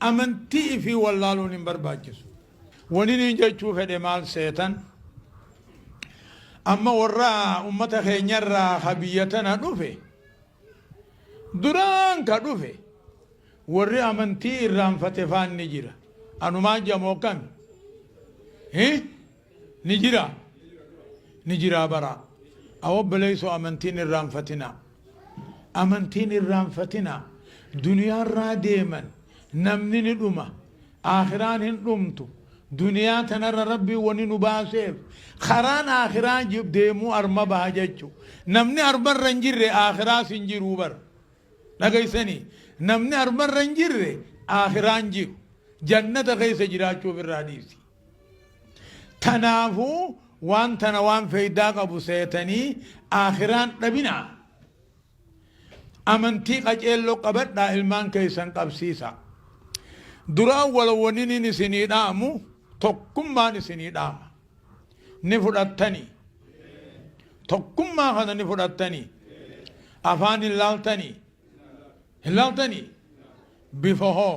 Amantii ifii wallaaluun hin barbaachisu. Wani niin jechuu fedhe maal seetan amma warra ummata keenya irraa ka biyya tana dhufe duraan ka dhufe warri amantii irraanfate faan ni jira. Anumaan jamoo akkami? Hi? Ni jira Ni jiraa baraa. A obboleeysoo amantiin irraanfatinaa Amantiin irraanfatinaa Duniyaarraa deeman namni ni dhuma Aakhiraan hin dhumtu Duniyaa tanarra Rabbiin wani nu baaseef Karaan Aakhiraa deemuu arma baha jachu Namni armarra hin jirre Aakhiraas hin jiruu bar Dhageeysanii Namni armarra hin jirre Aakhiraan jiru Jannata keeysa jiraachuuf irraa dhiisi. Tanaafu waan tana waan feydaa qabu seetanii aakhiraan dhabinaa. Amantii qaceello qabadhaa ilmaan keysan qabsiisaa. Duraa wal waninin isinii dhaamu tokkummaan isinii dhaama. Ni fudhattanii? Tokkummaa kana ni fudhattanii? Afaan hin laaltanii? Hin laaltanii? Bifa hoo?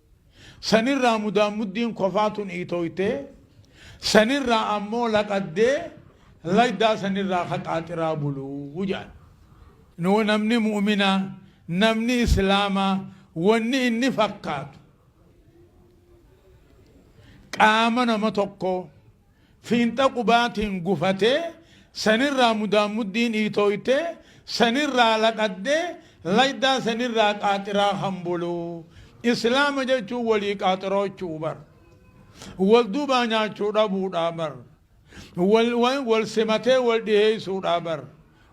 Sanirraa mudaanmuddiin kofaa tun iitooytee, sanirraa ammoo laqaddee laydaa sanirraa ka qaaxiraa bulu jedhan. Nuu namni mu'uminaa, namni islaamaa wanni inni fakkaatu qaama nama tokkoo, Fiinxa qubaatiin gufatee, sanirraa mudaanmuddiin iitooytee, sanirraa laqaddee, laydaa sanirraa qaaxiraa kan bulu. Islaama jechuun walii qaaxiroochuu bar. Wal duubaa nyaachuu dhabuudhaa bar. Wal simatee wal dhiheessuudhaa bar.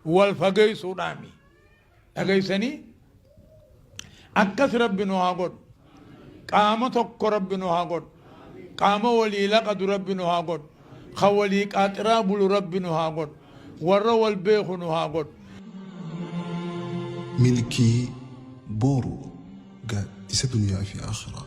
Wal fageessuudhaami. dhagaysanii akkas rabbi nu haa godhu qaama tokko rabbi nu haa godhu qaama walii laqadu rabbi nu haa godhu ka walii qaaxiraa bulu rabbi nu haa godhu warra wal beeku nu haa godhu milkii booru ga isa duniyaa fi akhiraa